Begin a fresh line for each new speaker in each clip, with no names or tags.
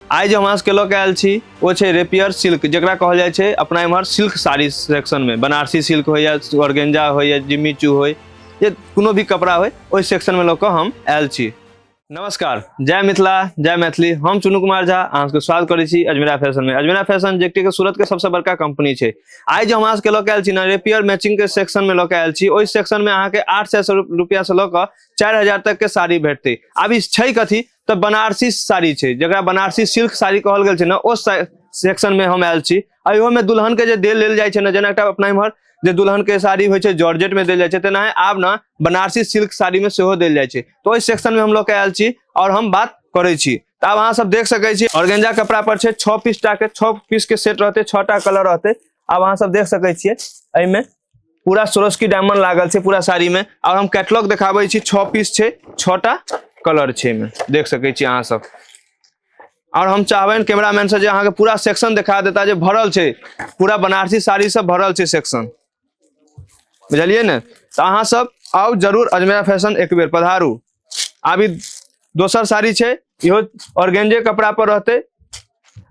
आइ जे हमरा सबके लऽ के आयल छी ओ छै रेपियर सिल्क जकरा कहल जाइ छै अपना एम्हर सिल्क साड़ी सेक्शनमे बनारसी सिल्क होइ या ऑर्गेंजा होइ या जिम्मी चू होइ या कोनो भी कपड़ा होइ ओहि सेक्शनमे लऽ कऽ हम आयल छी नमस्कार जय मिथिला जय मैथिली हम चुनू कुमार झा अहाँ सबके स्वागत करै छी अजमेरा फैशनमे अजमेरा फैशन जे कि सूरतके सबसँ बड़का कंपनी छै आइ जे हमरा सबके लऽ के आयल छी ने रेपियर मैचिंगके सेक्शनमे लऽ के आयल छी ओहि सेक्शनमे अहाँके आठ सए रुपैआसँ लऽ कऽ चारि हजार तकके साड़ी भेटतै आब ई छै कथी तऽ बनारसी साड़ी छै जकरा बनारसी सिल्क साड़ी कहल गेल छै ने ओ सेक्शन में हम आयल छी अहियो में दुल्हन के जे देल लेल जाइ छै ने जेना एकटा अपना इम्हर जे दुल्हन के साड़ी होइ छै जॉर्जेट में देल जाइ छै तेनाहे आब ने बनारसी सिल्क साड़ी में सेहो देल जाइ छै तऽ ओहि सेक्शन में हम लऽ के आयल छी और हम बात करै छी तऽ आब अहाँ सब देख सकै छी ऑर्गेंजा कपड़ा पर छै छः पीस टा के छः पीस के सेट रहते छः टा कलर रहते आब अहाँ सब देख सकै छियै एहिमे पूरा सोरस्की डायमंड लागल छै पूरा साड़ी में और हम कैटलॉग देखाबै छी छः पीस छै छटा कलर छै में देख सकै छी अहाँ सब और हम चाहबन कैमरामैन से जे अहाँ के पूरा सेक्शन दिखा देता जे भरल छै पूरा बनारसी साड़ी से भरल छै सेक्शन बुझलिए ने तो अहाँ सब आउ जरूर अजमेरा फैशन एक बेर पधारू आब ई दोसर साड़ी छै इहो ऑर्गेंजे कपड़ा पर रहते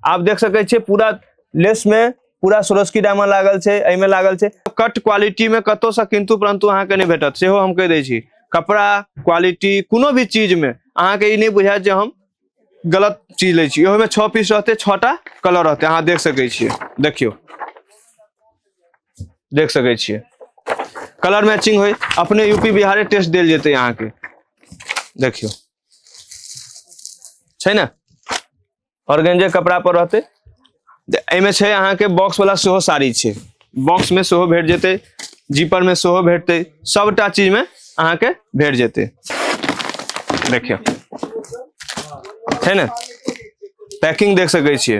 आप देख सके छे पूरा लेस में पूरा सुरस्की डायमंड लागल छे एहि में लागल छे कट क्वालिटी में कतो से किंतु परंतु अहाँ के नहीं भेटत सेहो हम कह दे छी कपड़ा क्वालिटी कोनो भी चीज में अहाँ के ई नहीं बुझायत जे हम गलत चीज ले छी इहो में छह पीस रहते छटा कलर रहते अहाँ देख सके छिए देखियो देख सके छे कलर मैचिंग हो अपने यूपी बिहारे टेस्ट दिल जते यहाँ के देखियो छे ना और गंजे कपड़ा पर रहते एमे छे यहाँ के बॉक्स वाला सेहो साड़ी छे बॉक्स में सेहो भेट जते जीपर में सेहो भेटते सबटा चीज में अहाँ के भेट जते देखियो है ना पैकिंग देख सके छे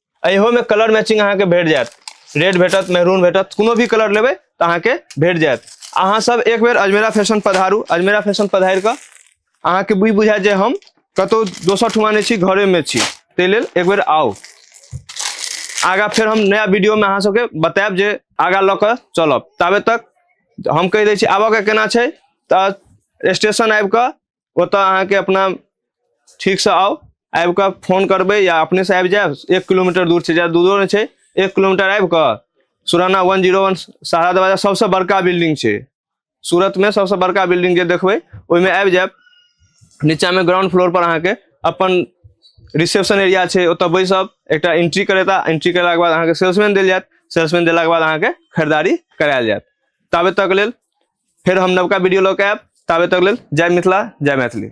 अहो में कलर मैचिंग अहाँ के भेट जायत रेड भेटत मेहरून भेटत कोनो भी कलर लेबे तो अहाँ के भेट जायत अहाँ सब एक बेर अजमेरा फैशन पधारू अजमेरा फैशन पधार कऽ अहाँ के बुझ बुझायत जे हम कतौ दोसर ठुमा नहि छी घरे में छी ताहि लेल एक बेर आउ आगा फिर हम नया वीडियो में अहाँ सबके बतायब जे आगा लऽ कऽ चलब ताबे तक हम कहि दै छी आबऽ के केना छै तऽ स्टेशन आबि कऽ ओतऽ अहाँके अपना ठीकसँ आउ आबि कऽ फोन करबै या अपनेसँ आबि जायब एक किलोमीटर दूर छै जादा दूरो नहि छै एक किलोमीटर आबि कऽ सुराना वन जीरो वन सहारा दरवाजा सभसँ बड़का बिल्डिंग छै सूरतमे सभसँ बड़का बिल्डिंग जे देखबै ओहिमे आबि जायब नीचाँमे ग्राउंड फ्लोरपर अहाँके अपन रिसेप्शन एरिया छै ओतऽ बैसब एकटा एंट्री करेता एंट्री करेलाके बाद अहाँके सेल्समैन देल जायत सेल्समैन देलाके बाद अहाँके खरीदारी करायल जायत ताबे तक लेल फेर हम नवका वीडियो लऽ के आयब ताबे तक लेल जय मिथिला जय मैथिली